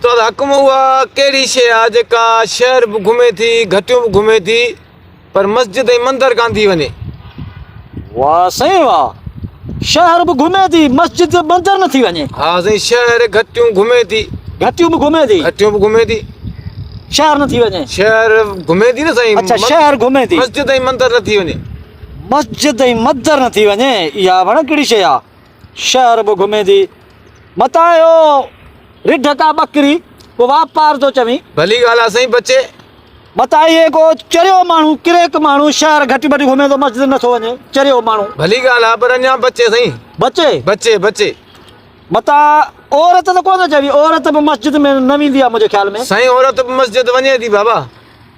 استاد حڪم اها ڪهڙي شيء آ جيڪا شهر به گهمي ٿي گهٽيون به گهمي ٿي پر مسجد ۽ مندر ڪان ٿي وڃي. واه سائين واه شهر به گهمي ٿي مسجد ۽ مندر نه ٿي وڃي. ها سائين شهر گهٽيون گهمي ٿي. گهٽيون به گهمي ٿي. گهٽيون به گهمي ٿي. شهر نه ٿي وڃي. شهر گهمي ٿي نه سائين. اڇا شهر گهمي ٿي. مسجد ۽ مندر نه ٿي وڃي. مسجد ۽ مندر نه ٿي وڃي اها ڀڻ ڪهڙي شيء آ. شهر به گهميندي. متان اهو رڍ ڪا ٻڪري ڪو واپار ٿو چوين. ڀلي ڳالهه آ سائين بچي. متان اهي ڪو چريو ماڻهو ڪريڪ ماڻهو شهر گهٽي ٻٽي گهمي ٿو مسجد نه ٿو وڃي چريو ماڻهو. ڀلي ڳالهه آ پر اڃان بچي سائين. بچي؟ بچي بچي. متان عورت ته ڪونه چوين عورت به مسجد ۾ نه ويندي آ منهنجي خيال ۾. سائين عورت به مسجد وڃي ٿي بابا.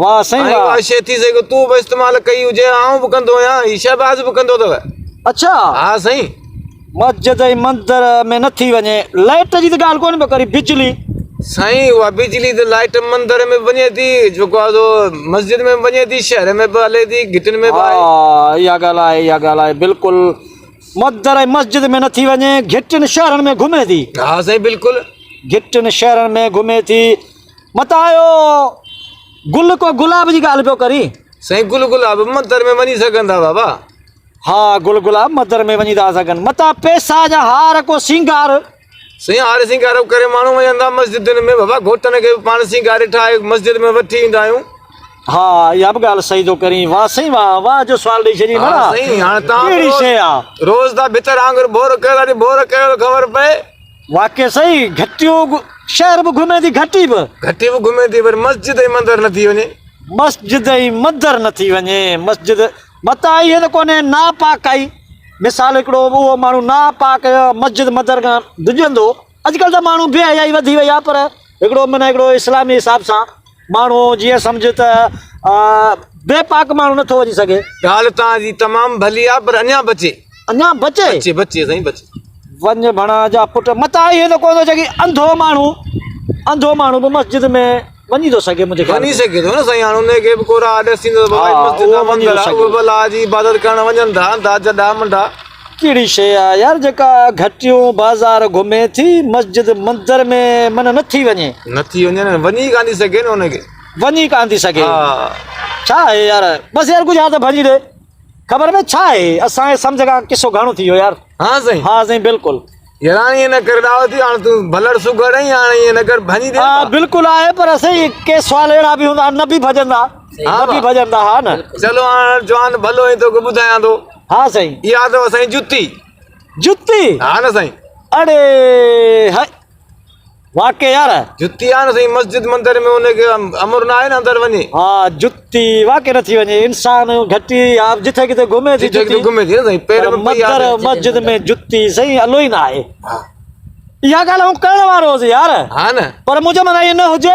واه سائين واه. ائين شي ٿي سگهي تون به استعمال ڪئي هجي آئون به ڪندو آهيان هي شهباز به ڪندو اٿو. اڇا. ها سائين. مسجد ۽ مندر ۾ نه ٿي وڃي لائٽ جي ته ڳالهه ڪونه پيو ڪرين بجلي. سائين اها بجلي ته لائٽ مندر ۾ به وڃي ٿي جيڪو آهي سو مسجد ۾ به وڃي ٿي شهر ۾ به هلي ٿي گهٽين ۾ به آهي. ها اها ڳالهه آهي اها ڳالهه آهي بلڪل مندر ۽ مسجد ۾ نه ٿي وڃي گهٽين شهرن ۾ گهمي ٿي. ها سائين بلڪل. گهٽين شهرن ۾ گهمي ٿي. متان اهو گل ڪو گلاب جي ڳالهه پيو ڪرين. سائين گل گلاب مندر ۾ وڃي سگهن ٿا بابا. ها گل گلاب مندر ۾ وڃي ٿا سگهن. متان پئسا جا هار ڪو سينگار. سائين هار سينگار ڪري ماڻهو وڃن ٿا مسجدن ۾ بابا گهوٽن کي به پاڻ سينگاري ٺاهي مسجد ۾ وٺي ايندا آهيون. ها اها به ڳالهه صحيح ٿو ڪرين. واه سائين واه واه جو سوال ڏئي ڇڏين ها سائين هاڻ تان روز روز ٿا ڀتر آنگر بور ڪيو ٿا ڏي بور ڪيو ٿو خبر پئي. واقعي سائين گهٽيون شهر به گهمي ٿي گهٽي به. گهٽي به گهمي ٿي پر مسجد ۽ مندر نه ٿي وڃي. مسجد ۽ مندر نه ٿي وڃي مسجد متان آئي هي ته ڪونهي ناپاڪ آئي مثال هڪڙو اهو ماڻهو ناپاڪ مسجد مندر کان ڊڄندو اڄڪلهه ته ماڻهو بي حيائي وڌي وئي آهي پر هڪڙو من هڪڙو اسلامي حساب سان ماڻهو جيئن سمجهه ته بي پاڪ ماڻهو نه ٿو وڃي سگهي. ڳالهه توهان جي تمام ڀلي آ پر اڃان بچي. اڃان بچي؟ بچي بچي سائين بچي. وڃ ڀڻا جا پٽ متان اهي ته ڪونه جيڪي انڌو ماڻهو انڌو ماڻهو به مسجد ۾ وڃي ٿو سگهي منهنجي خيال ۾. وڃي سگهي ٿو نه سائين هاڻ انهي کي به ڪو راهه ڏسيندو ته بابا هي مسجد آ مندر آ اهي به الله جي عبادت ڪرڻ وڃن ٿا انڌا جڏا منڊا. ڪهڙي شيء آ يار جيڪا گهٽيون بازار گهمي ٿي مسجد مندر ۾ من نه ٿي وڃي. نه ٿي وڃي نه وڃي ڪانه ٿي سگهي نه ان کي. وڃي ڪانه ٿي سگهي. ڇا آهي يار بس يار ڪجهه ها ته ڀڃي ڏي خبر ۾ ڇا آهي اسان جي سمجهه کان قصو گهڻو ٿي ويو يار. ها سائين. ها سائين بلڪل. ياران ائين نه ڪر ڏاهو ٿي هاڻ تون ڀلڙ سگهڙ آهين هاڻ ائين نه ڪر ڀڃي ڏي ها بلڪل آهي پر سائين ڪي سوال اهڙا به هوندا نه به ڀڄندا نه به ڀڄندا ها نه چلو هاڻ جوان ڀلو ائين توکي ٻڌايان ٿو ها سائين اها اٿو سائين جتي جتي ها نه سائين اڙي هئي واقعي يار. جتي آ نه سائين مسجد مندر ۾ ان کي امر ناهي نه اندر وڃي. ها جتي واقعي نه ٿي وڃي انسان گهٽي يا جتي ڪٿي گهمي ٿي جتي پر مندر مسجد ۾ جتي سائين الو ئي ناهي اها ڳالهه هو ڪرڻ وارو هوس يار پر منهنجو معنيٰ اهو نه هجي.